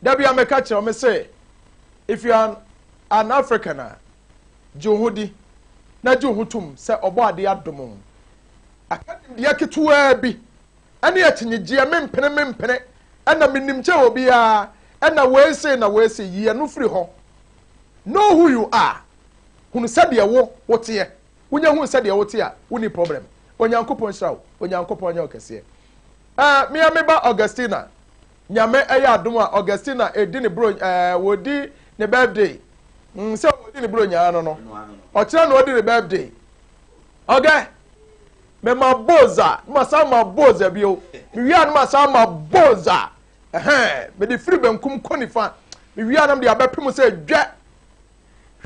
dabi a mɛka kyerɛ me sɛ if you are an african a gye wo ho di na gye wo ho tom sɛ ɔbɔ adeɛ adom aka nimdeɛ ketewaa bi ɛne akyinnyegyeɛ mempene mempene ɛna menim kyɛ wɔ biara ɛna wei sei na wei sei yie no firi hɔ know who you are hunu sɛdeɛ wo woteɛ Wonya hu sɛdeɛ wote a wonni problem. Onyankopɔn nhyira wo. Onyankopɔn nyɛ wo kɛseɛ. Ɛɛ me a me ba Augustina. Nyame ɛyɛ adom a Augustina ɛdi ne bro ɛɛ wɔdi ne birthday. Mm, sɛ wɔdi ne bro nyaa no no. Ɔkyerɛ na ɔdi ne birthday. Ɔgɛ. Me ma boza. Me ma saa ma boza bio. Me wia no ma saa ma boza. Ɛhɛn. Me de firi benkum kɔ nifa. Me wia no me de abɛpem sɛ dwɛ.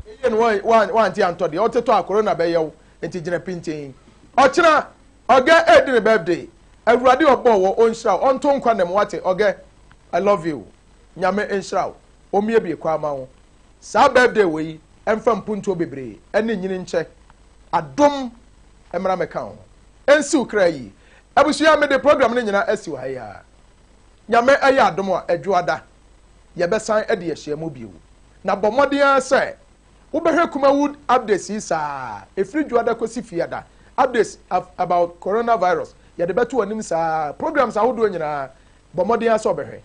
Eye no wante antɔ deɛ ɔte tɔ a corona bɛyɛ wo nti gyina pintin ɔkyena ɔgɛ ɛɛdi ne birthday awurade ɔbɔ wɔ ɔnhyira wo ɔnto nkwa nɛ mu wate ɔgɛ I love you nyame nhyira wo ɔmmiebie kwan ma wo saa birthday wɔ yi ɛmfa mpuntuo bebree ɛne nyini nkyɛ adom ɛmmra mɛka wo ho ɛnsiw kra yi abusua mede program no nyina asiw ha yi ara nyame ɛyɛ adom a ɛdwoada yɛbɛsan de ahyia mu bio. Na bɔ mmɔden ara sɛ wobɛhwɛ Kumawood updates yi saa ara, ɛfiri Dwoada kɔsi Fiada, updates about coronavirus, yɛde bɛto w'anim saa ara, programs ahodoɔ nyinaa, bɔ mmɔden ara sɛ wobɛhwɛ.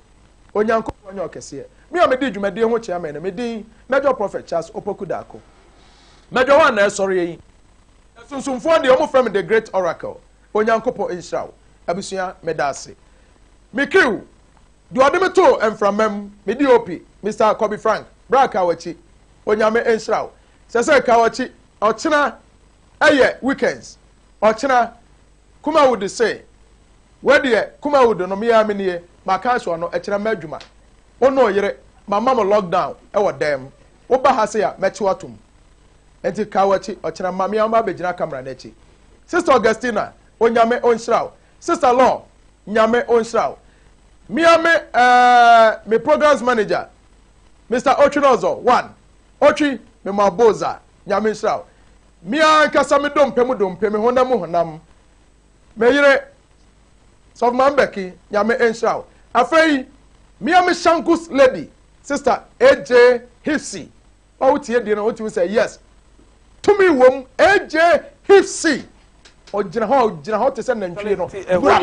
Onyankopɔn nyɛ ɔkɛseɛ. Me a medi dwumadie ho chairman no, me din Major Prophet Charles Opoku Darko. Major hɔ a na ɛsɔreɛ yi. Na sunsumfoɔ deɛ, wɔfrɛ me The Great Oracle. Onyankopɔn nhyira wo. Abusua, meda ase. Me crew. Deɛ ɔde me too mframa mu, me DOP, Mister Kobe Frank, bra Kawakyi, Onyame nhyira wo. Sɛ sɛ Kawakyi, ɔkyena ɛyɛ weekends, ɔkyena, Kumawood se, wei deɛ Kumawood no me ara me nie, maka ahyɛ ɔno, ɛkyena mma adwuma, wo ne wo yere, mama mo lock down wɔ dan mu, wo ba ha sei a, mɛkye wo atom. Nti Kawakyi, ɔkyena ma me ara mabɛgyina camera no akyi. Sister Augustina, Onyame ɔnhyira wo, Sister Lor Nyame onhyira wo. Me a me eh me programs manager Mister Otwinozor one Otwi me mo abo za Nyame nhyira wo. Me a nkasa me dompe mu dompe me honam mu honam me yere Sɔfo Maame Becky Nyame nhyira wo. Afei me a me Shankus lady Sister AJ Hifsi Ɔretie deɛ na ɔtumi sɛ yes tumi wɔm AJ Hipsy ɔgyina hɔ ɔgyina hɔ te sɛ nantwie no bra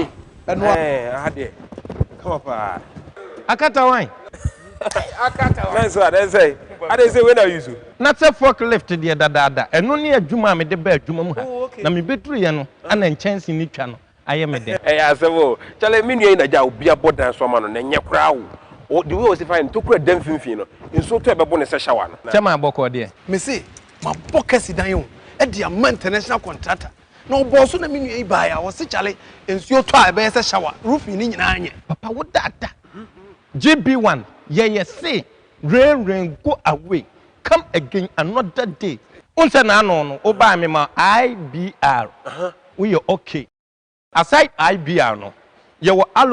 ɛnoa. Aha deɛ kama paa. Akatawan. Akatawan. Mɛnso a dɛn sɛ adɛn sɛ wei na ayi so. Na sɛ fork lift deɛ dadaada ɛno ne adwuma a mede baa adwuma mu ha na mebɛduruiɛ no ana nkyɛnse no twa no ayɛ me dɛ. Ɛyɛ asɛm o. Chale me nua yi na gya obi abɔ dan so ama no na ɛnyɛ koraa o. Ɔ the way ɔsi fa ntokura da mfimfini no, nsuo tɔ ɛbɛbo no sɛ shower no. Kyɛ maa bɔkɔɔ deɛ. Me se mabɔ kasi dan o de ama international contractor na ɔbɔɔ so na me nua yi baaɛ a ɔse chale nsuo tɔ a ɛbɛyɛ sɛ shower roofing no nyinaa nyɛ. Papa wo daadaa. JB one yɛyɛ se Rain rain go away come again another day. Wohu sɛ n'ano no wobae me ma IBR woyɛ okay. Aside IBR no yɛwɔ Allo.